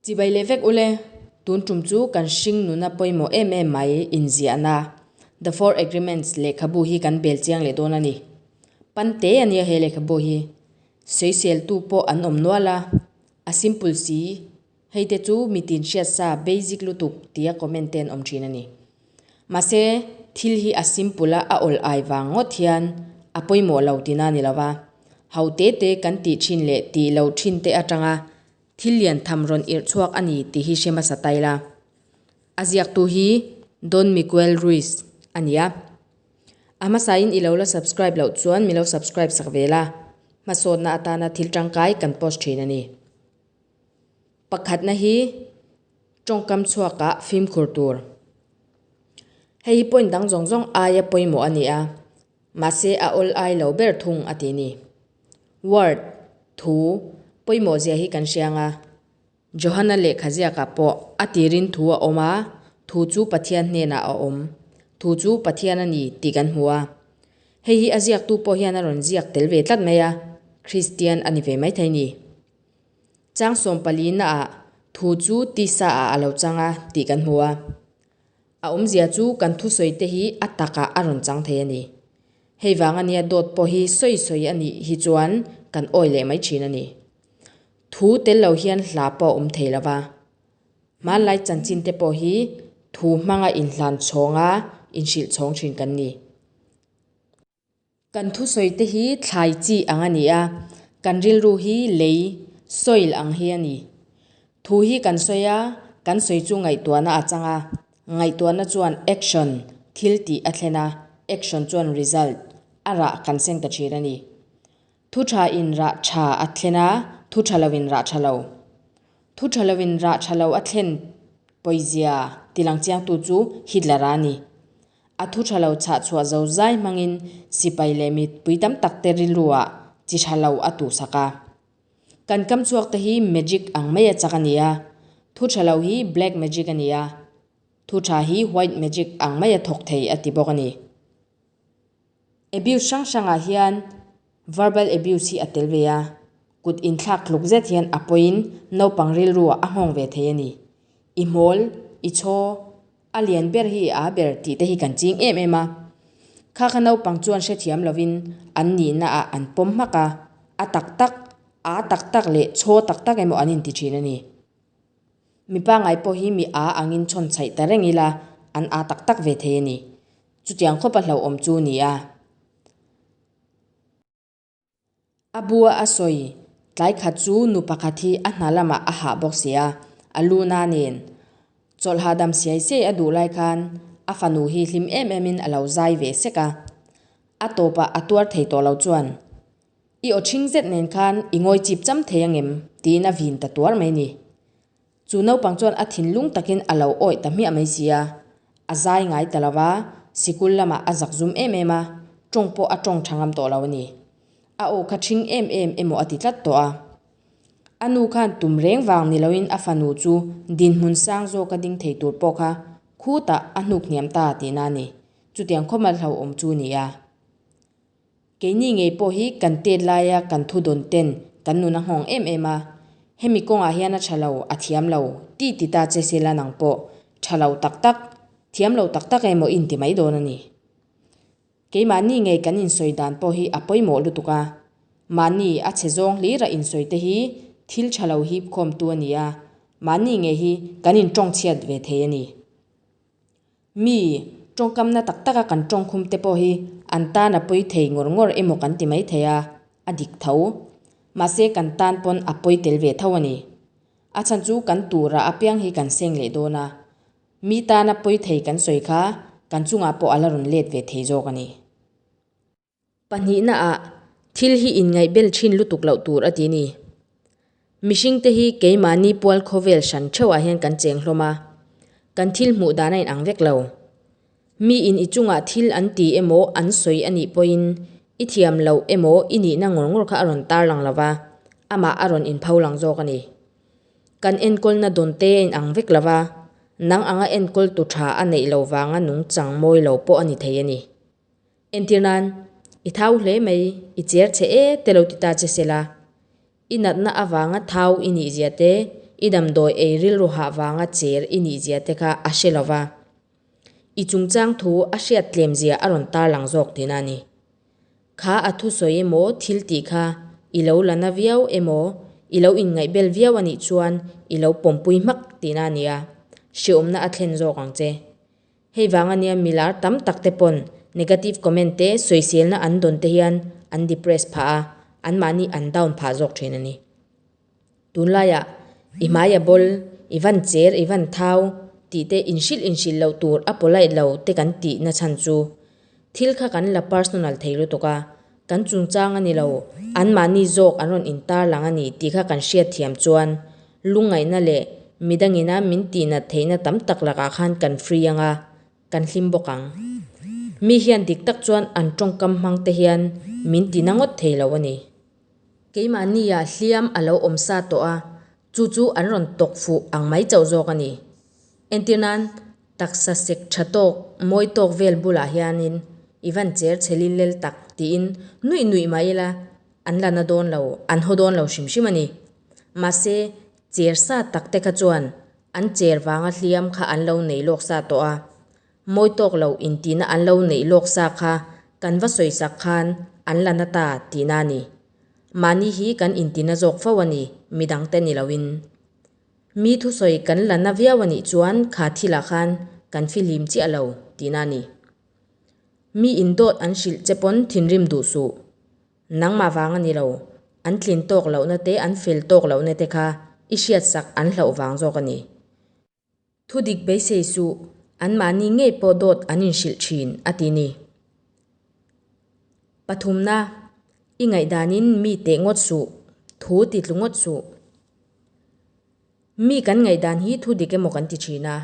Chibai leh vek ule, tun tum chu kan hring nuna pawimawh em em mai inziahna The Four Agreements lehkhabu hi kan bel chiang leh dawn a ni. Pan te a nia he lehkhabu hi. Sawiseltu pawh an awm nual a, a simple si. Hei te chu mitin hriat sa, basic lutuk, tia comment te'n awm thin a ni. Mahse, thil hi a simple a, a awlh ai vang ngawt hian a pawimawh lo ti na ni lo va. Haute te kan tih thin leh tih loh thin te atanga thil lian tham rawn irh chhuak a ni tih hi hre hmasa ta ila. A ziaktu hi Don Miguel Ruiz a ni a. A hmasain i lo la subscribe loh chuan mi lo subscribe sak ve la. Hmasawtna atana thil tangkai kan post thin a ni. Pakhatna hi tawngkam chhuakah fimkhur tur. Hei hi point dang zawng zawng aia pawimawh a ni a, mahse a awl ai lo ber thung a ti ni. Word, thu, pawimawh zia hi kan hria anga, Johana lehkha ziakah pawh a tirin thu a awm a, thu chu Pathian hnenah a awm, thu chu Pathian a ni tih kan hmu a. Hei hi a ziaktu pawh hian a rawn ziak tel ve tlat mai a, Kristian a ni ve maithei ni. Chang sawm pali naah thu chu tisa-ah a lo chang a tih kan hmu a. A awmzia chu kan thusawite hi a takah a rawn chang thei a ni. Hei vang a nia dawt pawh hi sawi sawi a nih hi chuan kan awi leh mai thin a ni. Thu tel lo hian hla pawh a awm thei lo va. Hmanlai chanchinte pawh hi thu hmanga inhlan chhawng a inhrilh chhawng thin kan ni. Kan thusawite hi thlai chi ang a ni a, kan rilru hi lei, soil, ang hi a ni. Thu hi kan sawi a, kan sawi chu ngaihtuahna a chang a. Ngaihtuahna chuan action, thil tih a thlen a, action chuan result, a rah kan sen ta thin a ni. Thu tha in rah tha a thlen a, thu tha lo in rah tha lo. Thu tha lo in rah tha lo a thlen pawizia tilang chiangtu chu Hitler a ni. A thu tha lo chhah chhuah zo zai hmangin sipai leh mipui tam tak te rilrua chi tha lo a tuh sak a. Kan kam chhuak te hi magic ang maia chak a ni a, thu tha lo hi black magic a ni a, thu tha hi white magic ang maia thawk thei a ti bawk a ni. Abuse hrang hrangah hian verbal abuse hi a tel ve a, kut inthlak tluk zet hian a pawiin naupang rilruah a nghawng ve thei a ni. I hmawl, i chaw, a lian ber hi aa ber tih te hi kan ching em em a. Kha kha naupang chuan hrethiam lovin an nihnaah an pawm hmak a, a tak tak, aa tak tak leh chaw tak tak emaw an inti thin a ni. Mipa ngai pawh hi mi aa angin chhawn chhaih ta reng ila an aa tak tak ve thei a ni. Chutiang khawpa hlauhawm chu ni a. A bua a sawi tlai khat chu nu pakhat hi a hna lamah a hah bawk sia, a lu na nen. Chawlh hahdam siai siai a duh lai khan a fanu hi hlim em emin a lo zai ve sek a. A tawpah a tuar thei tawh lo chuan I aw chhing zet nen khan i ngawi chip cham thei angem? tiin a vin ta tuar mai ni. Chu naupang chuan a thinlung takin a lo awih ta hmiah mai si a, a zai ngai ta lova, sikul lamah a zak zum em em a, tawng pawh a tawng tha ngam tawh lo a ni. A aw kha chhing em em emaw a ti tlat tawh a. A nu khan tum reng vang ni loin a fanu chu dinhmun sang zawk a ding thei tur pawh kha khutah a hnuk hniam ta ti na a ni. Chutiang khawmal hloawm chu nia. Keini ngei pawh hi kan tet laia kan thudawn ten kan nun a nghawng em em a, hemi kawngah hian a tha lo, a thiam lo tih ti ta che sela nang pawh tha lo tak tak, thiam lo tak tak emaw i inti mai dawn a ni. Keimahni ngei kan insawi dan pawh hi a pawimawh lutuk a, mahni a chhe zawng hlira insawi te hi thil tha lo hip khawm tu a ni a, mahni ngei hi kan in tawngchhiat ve thei a ni. Mi tawngkamna tak taka kan tawngkhum te pawh hi an tan a pawi thei ngawr ngawr emaw kan ti mai thei a, a dik tho. Mahse kan tan pawn a pawi tel ve tho a ni. A chhan chu kan tura apiang hi kan seng leh dawn a, mi tana pawi thei kan sawi kha kan chungah pawh a la rawn let ve thei zawk a ni. Pahnihnaah, thil hi inngaihbel thin lutuk loh tur a ti ni. Mihringte hi keimahni pual khawvel hran theuhah hian kan cheng hlawm a, kan thil hmuh dan a inang vek lo. Miin i chungah thil an ti emaw an sawi a nih pawhin i thiam loh emaw i nihna ngawr ngawr kha a rawn tar lang lova, amah a rawn inpho lang zawk a ni. Kan enkawlna dawnte a inang vek lova, nang anga enkawltu tha a neih lo vanga nung changmawi lo pawh a ni thei a ni. Entir nan, i thau hle mai, i cher che e te lo ti ta che se la, i natna avanga thau i nih zia te, i damdawi ei rilru hah vanga cher i nih zia te kha a hre lova, i chungchang thu a hriat tlem zia a rawn tarlang zawk tina a ni. Kha a thusawi emaw thil tih kha i lo la na viau emaw i lo inngaihbel viau a nih chuan i lo pawmpui hmak tina a nia, hreawmna a thlen zawk ang che. Hei vang a nia mi lar tam tak te pawn negative comment te sawi selna an dawn te hian an depress phah a, an mahni an down phah zawk thin a ni. Tun laiah i hmai a bawl, i van cher, i van thau tih te in hrilh in hrilh loh tur a polite lo te kan tihna chhan chu Thil kha kan la personal thei lutuk a, kan chungchang a ni lo, anmahni zawk an rawn intarlang a ni tih kha kan hriatthiam chuan lungngaihna leh midangina min tihnat theihna tam tak lakah khan kan free anga kan hlim bawk ang. Mi hian dik tak chuan an tawngkam hmangte hian min ti na ngawt thei lo a ni. Keimahnia hliam a lo awm sa tawh a, chu chu an rawn tawk fuh ang mai chauh zawk a ni. Entir nan, taksa sek tha tawk, mawi tawk vel bulah hianin i van cher chhe lil lel tak tiin nuih nuih mah ila an la na dawn lo, an haw dawn lo hrim hrim a ni. Mahse, cher sa takte kha chuan an cher vanga hliam kha an lo nei lawk sa tawh a. Mawi tawk lo in tihna an lo neih lawk sa kha kan va sawi sak khan an la na ta tihna a ni. Mahni hi kan in ti na zawk fo a ni mi dang te ni lo in. Mi thusawi kan la na viau a nih chuan kha thil ah khan kan fi hlim chiah lo tihna a ni. Mi in dawt an hrilh che pawn thinrim duh suh. Nangmah vang a ni lo, an tlin tawk loh na te an fel tawk loh na te kha i hriat sak an hlauh vang zawk a ni. Thu dik beisei suh, anmahni ngei pawh dawt an inhrilh thin, a ti ni. Pathumna, i ngaihdanin mi teh ngawt suh, thu ti tlu ngawt suh. Mi kan ngaihdan hi thu dik emaw kan ti thin a,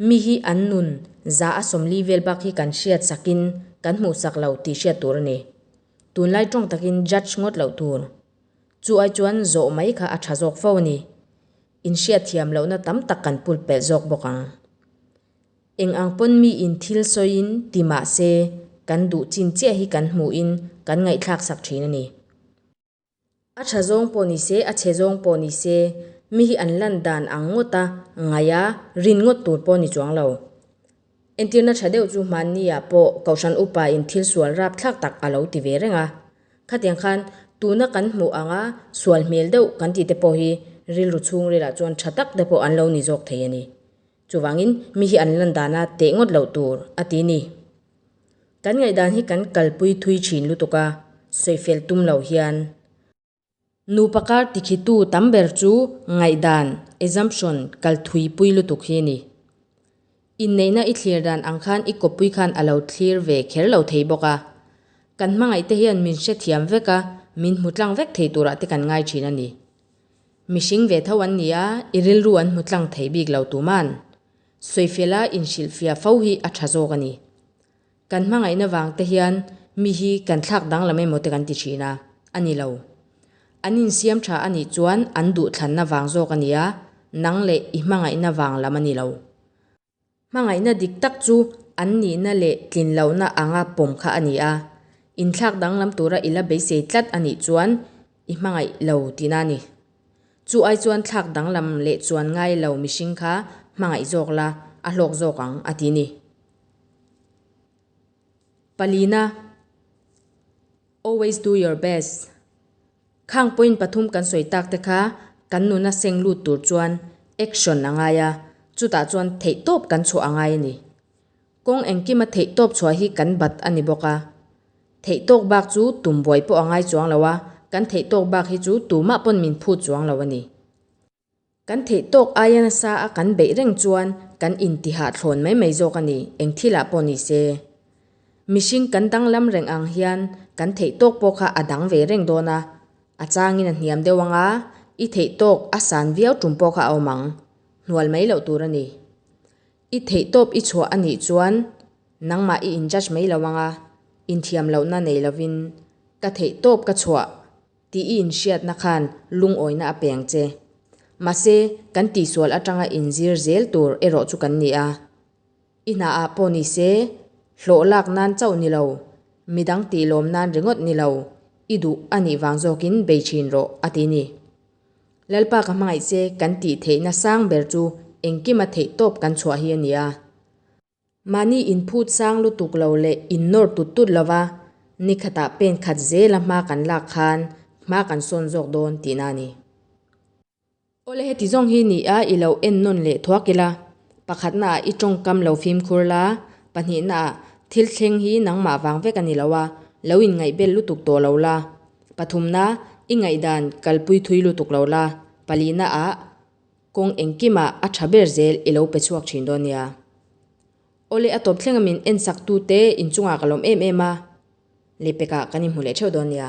mi hi an nun za a sawmli vel bak hi kan hriat sakin kan hmuhsak lo tih hriat tur a ni. Tunlai tawng takin judge ngawt loh tur chu ai chuan zawh mai kha a tha zawk fo a ni. inhriatthiam lohna tam tak kan pulpelh zawk bawk ang. Eng ang pawn miin thil sawiin ti mah se kan duh chin chiah hi kan hmuhin kan ngaihthlak sak thin a ni. A tha zawng pawh ni se, a che zawng pawh ni se, mi hi an lan dan ang ngawta ngaia rin ngawt tur pawh ni chuang lo. Entirna tha deuh chu hmanniah pawh Kohhran upain thil sual rap thlak tak a lo ti ve reng a. Khatiang khan tuna kan hmuh anga sual hmel deuh kan ti te pawh hi rilru chhungrila chuan tha tak te pawh an lo ni zawk thei a ni. Chuvangin mi hi an landana teh ngawt loh tur a ti ni. Kan ngaihdan hi kan kalpui thui thin lutuk a, sawi fel tum lo hian Nupa kar tikhitu tam ber chu ngaihdan, assumption, kal thui pui lutuk hi a ni. Inneihna i thlir dan ang khan i kawppui khan a lo thlir ve kher lo thei bawk a. Kan hmangaihte hian min hrethiam vek a, min hmu tlang vek thei turah te kan ngai thin a ni. Mihring ve tho an ni a, i rilru an hmu tlang thei bik lo tuman, Soifela inhrilhfia fo hi a tha zawk a ni. Kan hmangaihna vang te hian mi hi kan thlak danglam emaw te kan ti thin a, a ni lo. An insiam tha a nih chuan an duhthlanna vang zawk a ni a, nang leh i hmangaihna vang lam a ni lo. Hmangaihna dik tak chu an nihna leh tlin lohna anga pawm kha a ni a, inthlak danglam tura i la beisei tlat a nih chuan i hmangaih lo tihna a ni. Chu ai chuan thlak danglam leh chuan ngai lo mihring kha hmangaih zawk la, a hlawk zawk ang a ti ni. Palina, Always do your best. Khang point pathum kan sawi tak te kha kan nuna seng lut tur chuan action a ngai a, chutah chuan theihtawp kan chhuah a ngai a ni. Kawng engkima theihtawp chhuah hi kan bat a ni bawk a. Theihtawk bak chu tumbuai pawh a ngai chuang lo a, kan theihtawk bak hi chu tumah pawn min phut chuang lo a ni. Kan theih tawk aia nasa a kan beih reng chuan kan intihahthlawn mai mai zawk a ni, eng thilah pawh ni se. Mihring kan danglam reng ang hian kan theih tawk pawh kha a dang ve reng dawn a, a changin a hniam deuh anga i theih tawk a san viau tum pawh kha a awm ang. Hnual mai loh tur a ni. I theih tawp i chhuah a nih chuan nangmah i in judge mai lo anga inthiam lohna nei lovin ka theih tawp ka chhuah Tih i inhriatna khan lungawina a peng che. Mahse, kan tihsual atanga inzir zel tur erawh chu kan ni a. I hna ah pawh ni se, hlawh lak nan chauh ni lo, midang tih lawm nan ringawt ni lo, i duh a nih vang zawkin bei thin rawh, a ti ni. Lalpa ka hmangaih che kan tih theihna sang ber chu engkim a theih tawp kan chhuah hi a ni a. Mahni in phut sang lutuk lo leh in nawr tut tut lova ni khatah pen khat zela hma kan lak khan hma kan sawn zawk dawn tihna a ni. Awle heti zawng hi nih a i lo en nawn leh thuak ila, pakhatna ah i tawngkam lo fimkhur la, pahnihna ah thil thleng hi nangmah vang vek a ni lo a, lo in ngaihbel lutuk tawh lo la, pathumna i ngaihdan kalpui thui lutuk lo la, palihna ah, Kawng engkimah a tha ber zel i lo pe chhuak thin dawn nia. Aw le, a tawp thleng a min ensaktute inchungah ka lawm em em a, Lepekah kan inhmu leh theuh dawn nia.